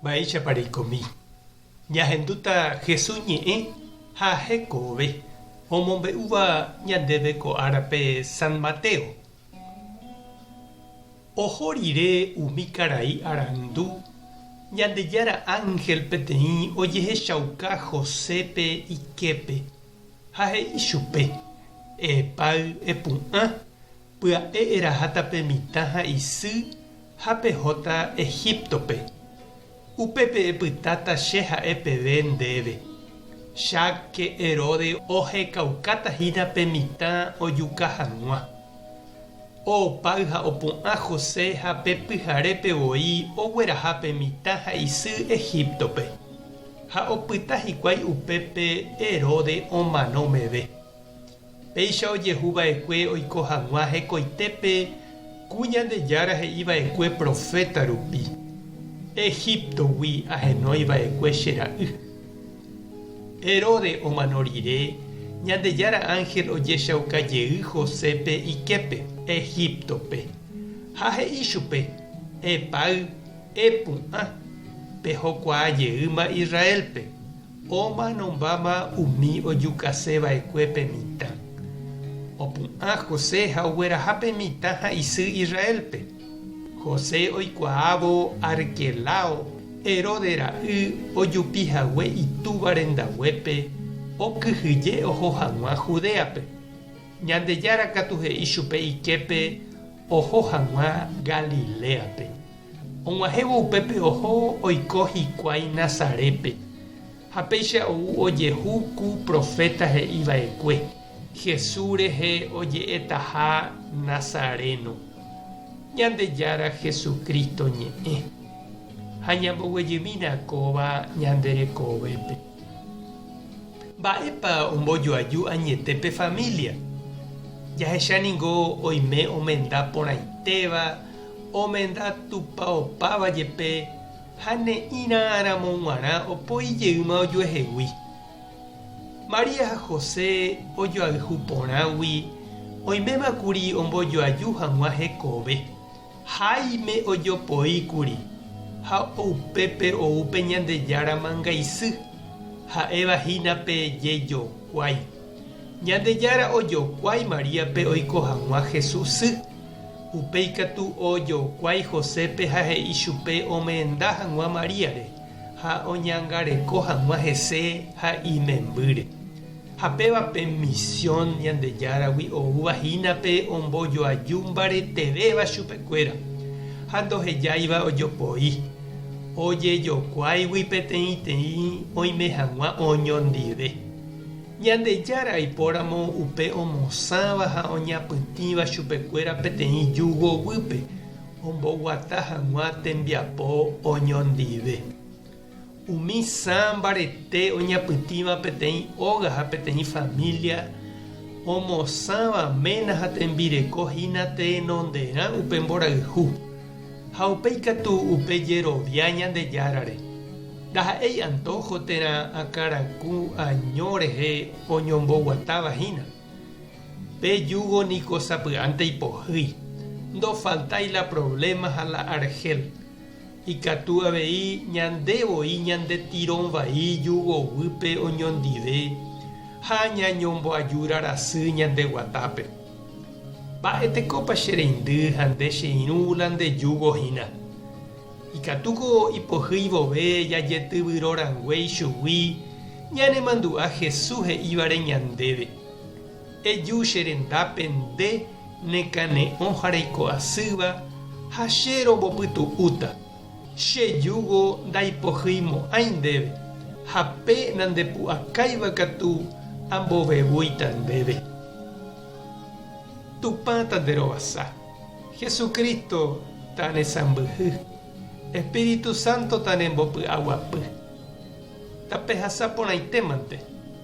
Mba'éichapa reikomi. Ñahendúta Jesús ñe'ẽ ha hekove omombe'úva ñandéve ko árape San Mateo. Oho rire umi karai arandu, Ñandejára ánhel peteĩ ojehechauka Josépe iképe ha he'i chupe, Epáy, epu'ã, Pya'e eraháta pe mitã ha isy ha pehóta Egíptope. Upépe epytáta che ha'e peve ndéve. Cháke Heróde ohekaukáta hína pe mitã ojuka hag̃ua. Oopáy ha opu'ã José ha pe pyharépe voi ogueraha pe mitã ha isy Egíptope, ha opyta hikuái upépe Heróde omano meve. Péicha ojehu va'ekue oiko hag̃ua hekoitépe ku Ñandejára he'i va'ekue proféta rupi, Egíptogui ahenói va'ekue che ra'y. Heróde omano rire, Ñandejára ánhel ojechauka jey Josépe iképe Egíptope, ha he'i chupe, Epáy, epu'ã, pejokuaa jeýma Israélpe. Omanombáma umi ojukase va'ekue pe mitã. Opu'ã José ha ogueraha pe mitã ha isy Israélpe. José oikuaávo Arquelao, Herodes ra'y, ojupi hague itúva rendaguépe, okyhyje oho haguã Judéape. Ñandejára katu he'i chupe iképe oho haguã Galiléape. Og̃uahẽvo upépe oho oiko hikuái Nazarépe, ha péicha ou ojehu ku proféta he'i va'ekue, Jesús rehe oje'etaha Nazaréno, Ñandejára Jesucristo ñe'ẽ. Ha ñamboguejymína kóva ñande rekovépe. Mba'épa ombojoaju añete pe família? Jahecha ningo oime omenda porãitéva, omenda tupaopáva jepe ha ne'ĩrãramo g̃uarã opoi jeýma ojuehegui. María ha José ojoayhu porãgui oiméma kuri ombojoaju hag̃ua hekove. Jaime ojopoíkuri ha upépe ou pe Ñandejára mangaisy, ha'éva hína pe jejokuái. Ñandejára ojokuái Maríape oiko hag̃ua Jesús sy. Upéi katu ojokuái Josépe ha he'i chupe omenda hag̃ua Maríare ha oñangareko hag̃ua hese ha imembýre. Ha péva pe misión Ñandejáragui oúva hína pe ombojoaju mbaretevéva chupekuéra, ha ndohejáiva ojopoi, ojejokuáigui peteĩteĩ oime hag̃ua oñondive. Ñandejára aipóramo upe omosãva ha oñapytĩva chupekuéra peteĩ júgo guýpe, omboguata hag̃ua tembiapo oñondive. Umi sã mbarete oñapytĩva peteĩ óga ha peteĩ família omosãva ména ha tembireko hína tenonderã upe mborayhu, ha upéi katu upe jerovia Ñandejárare. Ndaha'éi antojo térã akãraku año rehe oñomboguatáva hína. Pe júgo niko sapy'ánte ipohýi. Ndofaltái la provléma ha la arhél. Ikatu avei ñande voi ñandetirõ vai jugoguýpe oñondive ha ñañomboajúra rasy ñande guatápe. Mba'e tekópa che reindy ha nde che irũ la nde júgo hína? Ikatúko ipohýi vove jajetyvyro rangue ichugui ñanemandu'a Jesús he'ívare ñandéve. Eju che rendápe nde nekane'õ ha reiko asýva, ha che rombopytu'úta. Che júgo ndaipohyimo'ãi ndéve, ha pe nandepu'akáiva katu ambovevúita ndéve. Tupã tanderovasa, Jesucristo tanesãmbyhy, Espíritu Santo tanembopy'aguapy. Tapehasa porãitémante.